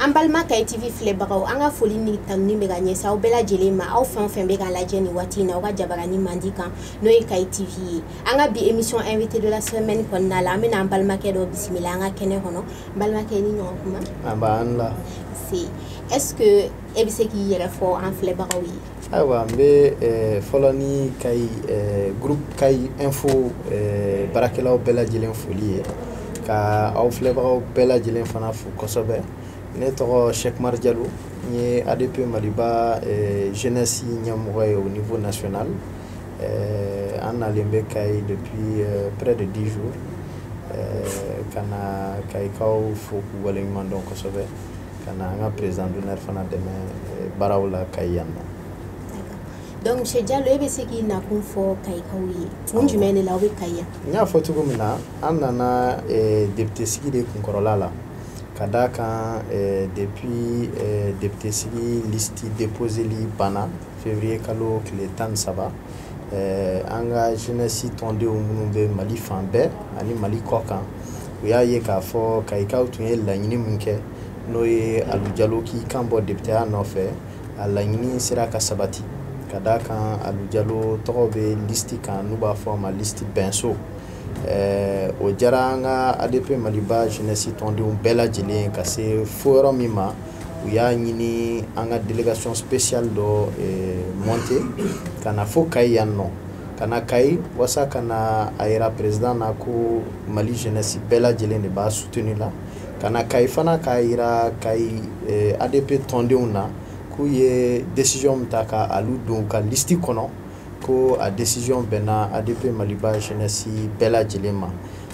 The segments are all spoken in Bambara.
an balima kayi tv filɛbagaw an ka foli ni tanuni bɛ ka ɲɛsin aw bɛɛ lajɛlen ma aw fɛn o fɛn bɛ k'an lajɛ nin waati in na aw ka jabarani mandi kan n'o ye kayi tv ye an ka bi émission invité de la semaine kɔnɔna la an bɛna an balimakɛ dɔ bisimila an ka kɛnɛ kɔnɔ n balimakɛ ni ɲɔgɔn kuma an b'an la se est ce que e bɛ se k'i yɛrɛ fɔ an filɛbagaw ye ayiwa n bɛ eh, fɔlɔ ni kayi eh, groupe kayi info eh, baarakɛlaw bɛɛ lajɛlen foli ye ka aw filɛbagaw bɛɛ lajɛlen fana fo kosɛbɛ ne tɔgɔ shek umar jalo n ye adp maliba jeunesse ɲɛmɔgɔ ye au niveau national an nalen bɛ kayi depuis près de 10 jours ka na kayikaw fo k'u waleɲuman dɔn kosɛbɛ ka na an ka président d'honneur fana dɛmɛ eh, baaraw la kayi yan nɔ donc monsieur Diallo e bɛ se k'i nakun fɔ kayikaw ye kun jumɛn de la aw bɛ kayi yan n y'a fɔ cogo min na an nana eh, député sigi de kunkɔrɔla la ka d'a kan eh, depuis eh, député sigi liste déposeli banna février kalo tile tan ni saba eh, an ka jeunesse tɔndenw minnu bɛ mali fan bɛɛ ani mali kɔ kan u y'a ye k'a fɔ kayikaw tun ye laɲini min kɛ n'o ye alu jalo k'i kan bɔ depiteya nɔfɛ a laɲini sera ka sabati ka d'a kan alu jalo tɔgɔ bɛ listi kan n'u b'a fɔ a ma listi bɛnso eh, o diyara an ka adp maliba jeunesse tɔndenw bɛɛ lajɛlen ka se fo yɔrɔ min ma u y'a ɲini an ka délégation spéciale dɔ eh, monter ka na fo kayi yan nɔ ka na kayi wasa ka na a yira président na ko mali jeunesse bɛɛ lajɛlen de b'a soutenir la ka na kayi fana k'a yira kayi eh, adp tɔndenw na k'u ye décision min ta ka alu don u ka listi kɔnɔ ko a décision bɛnna ADP Maliba jeunesse bɛɛ lajɛlen ma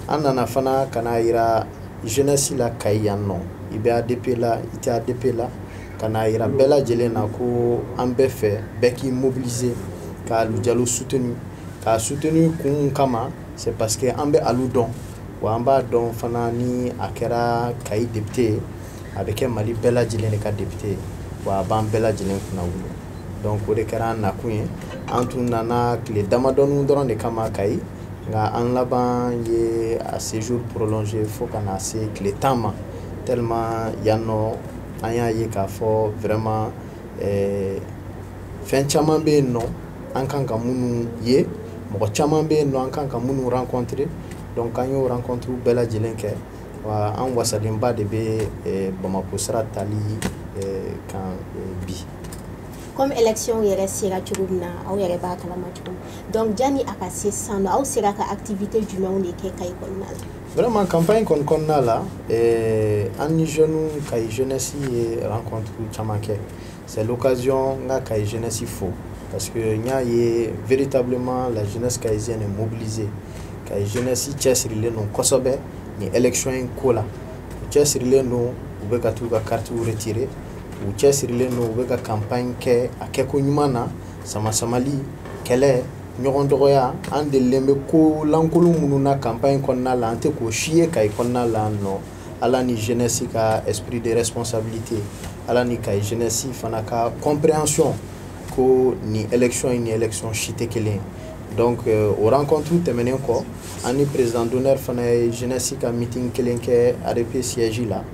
an nana fana ka n'a yira jeunesse la Kayi yan nɔ i bɛ ADP la i tɛ ADP la ka n'a yira bɛɛ lajɛlen na ko an b'a fɛ bɛɛ k'i mobiliser ka Alu Jalo soutenir k'a soutenir kun kama c'est parce que an bɛ Alu dɔn wa an b'a dɔn fana ni a kɛra Kayi député ye a bɛ kɛ Mali bɛɛ lajɛlen de ka député ye wa a b'an bɛɛ lajɛlen kunnawolo donc o de kɛra an nakun ye an tun nana tile damadɔnin dɔrɔn de kama kayi nka an laban ye a séjour prolonger fo ka na se tile tan ma tellement yan nɔ an y'a ye k'a fɔ vraiment eh, fɛn caman bɛ yen nɔ an kan ka minnu ye mɔgɔ caman bɛ yen nɔ an kan ka minnu rencontrer donc an y'o rencontre bɛɛ lajɛlen kɛ wa an wasalenba de bɛ eh, bamako sira tali eh, kan eh, bi comme élection yɛrɛ sera cogo min na aw yɛrɛ b'a kalama cogo min donc jani a ka se sisan nɔ aw sera ka activité jumɛnw de kɛ kayi kɔnɔna la vraiment campagne kɔni kɔnɔna la eh, an ni jeune kayi jeunesse ye rencontre caman kɛ c'est l'occasion n ka kayi jeunesse fo parce que n y'a ye véritablement la jeunesse kayisienne est mobilisée kayi jeunesse cɛsirilen don kosɛbɛ nin élection in ko la u cɛsirilen don u bɛ ka t'u ka carte retirer u cɛsirilen don u bɛ ka campagne kɛ a kɛko ɲuman na samasamali kɛlɛ ɲɔgɔn dɔgɔya an delilen bɛ ko lankolon minnu na campagne kɔnɔna la an tɛ k'o si ye kayi kɔnɔna la nɔ ala ni jeunesse ka esprit de responsabilité ala ni kayi jeunesse fana ka compréhension ko nin élection in ni élection si tɛ kelen ye donc euh, o rencontre tɛmɛnen kɔ an ni président d'honneur fana ye jeunesse ka meeting kelen kɛ ADP siège la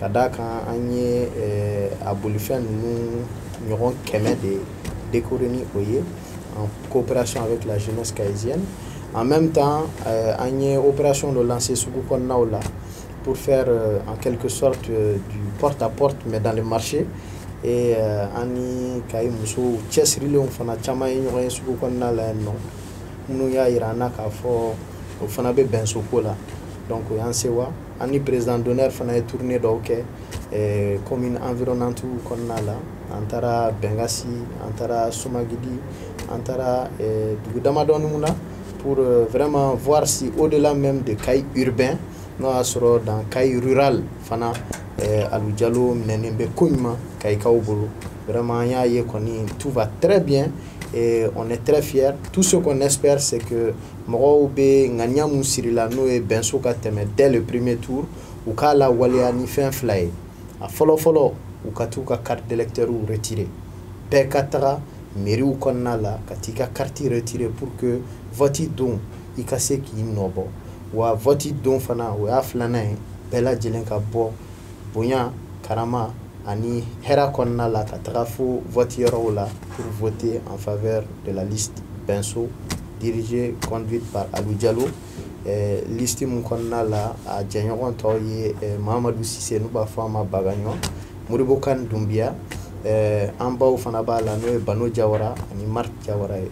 ka d'a kan an ye eh, a bolifɛn ninnu ɲɔgɔn kɛmɛ de décorer ni o ye en coopération avec la jeunesse kayisienne en même temps eh, an ye opération dɔ lancer sugu kɔnɔnaw la pour faire euh, en quelque sorte euh, du porte à porte mais dans le marché et euh, an ni kayi musow cɛsirilenw fana caman ye ɲɔgɔn ye sugu kɔnɔna la yan nɔ minnu y'a yira an na k'a fɔ o fana bɛ bɛnso ko la donc o y'an sewa An ni président d'honneur fana ye tournée dɔw kɛ eh, commune environnante kɔnɔna la an taara Bengasi an taara Somankidi an taara eh, dugu damadɔni mun na pour euh, vraiment voir si au-delà même de Kayi urbain n'o y'a sɔrɔ dans Kayi rural fana eh, Alu Jalo minɛnen bɛ ko ɲuman Kayikaw bolo vraiment an y'a ye kɔni tout va très bien et on est très fiers tout ce qu'on espère c'est que mɔgɔw bɛ ŋaniya mun sirila n'o ye bɛnso ka tɛmɛ dès le premier tour u k'a lawaleya ni fɛn fila ye a fɔlɔ fɔlɔ u ka t'u ka carte d'électeurs retirer bɛɛ ka taga mairiew kɔnɔna la ka t'i ka carte retirer pour que vote don i ka se k'i nɔ bɔ wa vote don fana o y'a filanan ye bɛɛ lajɛlen ka bɔ bonya karama ani hɛra kɔnɔna la ka taga fo vote yɔrɔw la pour voter en faveur de la liste Benso dirigée conduite par Alou Diallo eh, liste mun kɔnɔna la a jɛɲɔgɔn tɔw ye eh, Mahamadou Sise n'u b'a fɔ a ma Bagaɲɔ Modibo Kane Dunbiya eh, an baw fana b'a la n'o ye Bano Jawara ani Marthe Jawara ye.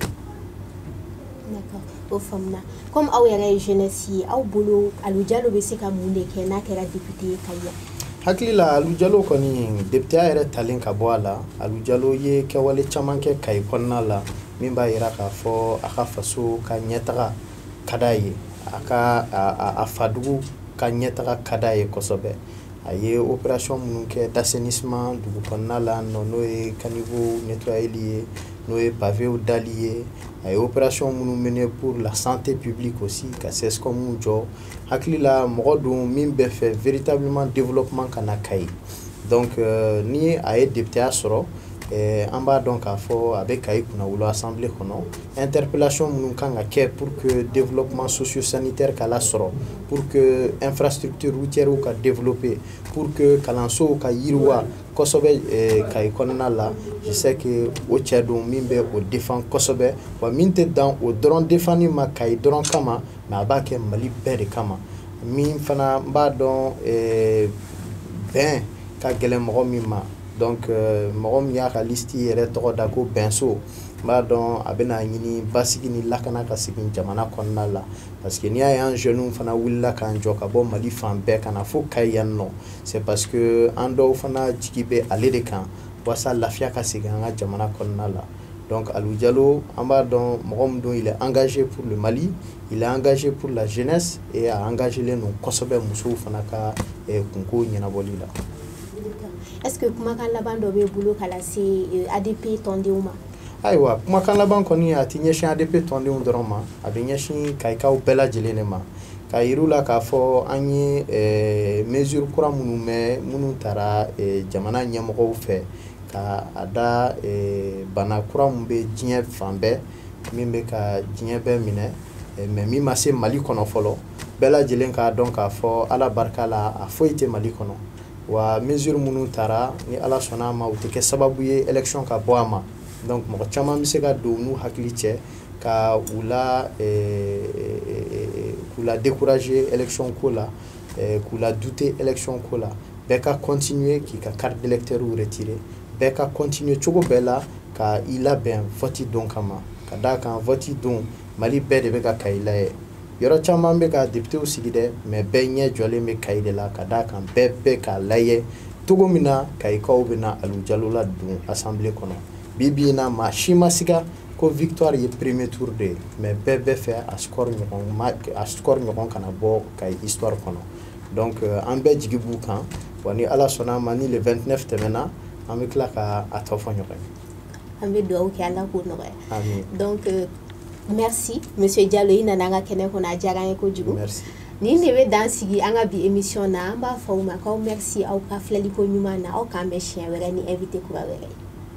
D'accord, o faamuna. Kɔmi aw yɛrɛ ye jenɛsi ye aw bolo Alou Diallo bɛ se ka mun de kɛ n'a kɛra député ye Kayi yan hakili la Alou Diallo kɔni députéya yɛrɛ talen ka bɔ a la Alou Diallo ye kɛwale caman kɛ Kayi kɔnɔna la min b'a yira k'a fɔ a ka faso ka ɲɛtaga ka d'a ye a ka a fadugu ka ɲɛtaga ka d'a ye kosɛbɛ a ye opération minnu kɛ d'assainissement dugu kɔnɔna la nɔ n'o ye caniveau nettoyeli ye n'o ye pavéw dali ye a ye opération minnu mené pour la santé publique aussi ka CSCOM jɔ hakili la mɔgɔ don min bɛ fɛ véritablement développement ka na Kayi donc euh, ni a ye députéya sɔrɔ eh, an b'a dɔn k'a fɔ a bɛ Kayi kunnawolo assemblée kɔnɔ interpellation minnu kan ka kɛ pour que développement socio-sanitaire ka lasɔrɔ pour que infrastructure routière ka développer pour que kalansow ka yiriwa kosɛbɛ eh, kayi kɔnɔna la je sais que o cɛ don min bɛ o defan kosɛbɛ wa min tɛ dan o dɔrɔn defanni ma kayi dɔrɔn kama mais a b'a kɛ mali bɛɛ de kama min fana n b'a dɔn eh, bɛn ka gɛlɛn mɔgɔ min ma donc eh, mɔgɔ min y'a ka listi yɛrɛ tɔgɔ da ko bɛnso n b'a dɔn a bɛna ɲini basigi ni lakana ka segin jamana kɔnɔna la parce que n'i y'a ye an jeunes fana wulila k'an jɔ ka bɔ mali fan bɛɛ ka na fo kayi yan nɔ c'est parce que an dɔw fana jigi bɛ ale de kan walasa lafiya ka segin an ka jamana kɔnɔna la donc Alou Diallo an b'a dɔn mɔgɔ min don il est engagé pour le Mali il est engagé pour la jeunesse et a engagélen don kosɛbɛ musow fana ka eh, kunko ɲɛnabɔli la est-ce que kumakan laban dɔ b'e bolo k'a lase eh, ADP tɔndenw ma ayiwa kumakan laban kɔni a tɛ ɲɛsin ADP tɔndenw dɔrɔn ma a bɛ ɲɛsin kayikaw bɛɛ lajɛlen de ma k'a yir'u la k'a fɔ an ye eh, mesure kura minnu mɛn minnu tara eh, jamana ɲɛmɔgɔw fɛ ka a da eh, bana kura min bɛ diɲɛ fan bɛɛ min bɛ ka diɲɛ bɛɛ minɛ mais min ma se mali kɔnɔ fɔlɔ bɛɛ lajɛlen k'a dɔn k'a fɔ ala barika la a foyi tɛ mali kɔnɔ wa mesure minnu tara ni Ala sɔnna a ma u tɛ kɛ sababu ye élection ka bɔ a ma donc mɔgɔ caman bɛ se ka don u n'u hakili cɛ ka u la k'u la décourager élection ko la k'u la douter élection ko la bɛɛ ka continuer k'i ka carte d'électeur retirer bɛɛ ka continuer cogo bɛɛ la ka i labɛn vote don kama ka d'a kan vote don mali bɛɛ de bɛ ka kayi layɛ yɔrɔ caman bɛ ka depitew sigi dɛ mais bɛɛ ɲɛ jɔlen bɛ kayi de la ka d'a kan bɛɛ bɛ k'a layɛ cogo min na kayikaw bɛna Alou Diallo ladon assemblée kɔnɔ bi bi in na maa si ma siga ko victoire ye premier tour de ye mais bɛɛ bɛ fɛ a score ɲɔgɔn ma a score ɲɔgɔn kana bɔ kayi histoire kɔnɔ donc euh, an bɛɛ jigi b'u kan wa ni ala sɔnna a ma ni le 29 tɛmɛna an bɛ tila ka a tɔ fɔ ɲɔgɔn ye an bɛ dugawu kɛ ala k'o nɔgɔya donc euh, merci monsieur Diallo i nana an ka kɛnɛ kɔnɔ a diyara an ye kojugu nin de bɛ dan sigi an ka bi émission na an b'a fɔ aw ma k'aw merci aw ka filɛliko ɲuman na aw k'an bɛn siɲɛ wɛrɛ ni invité kura wɛrɛ ye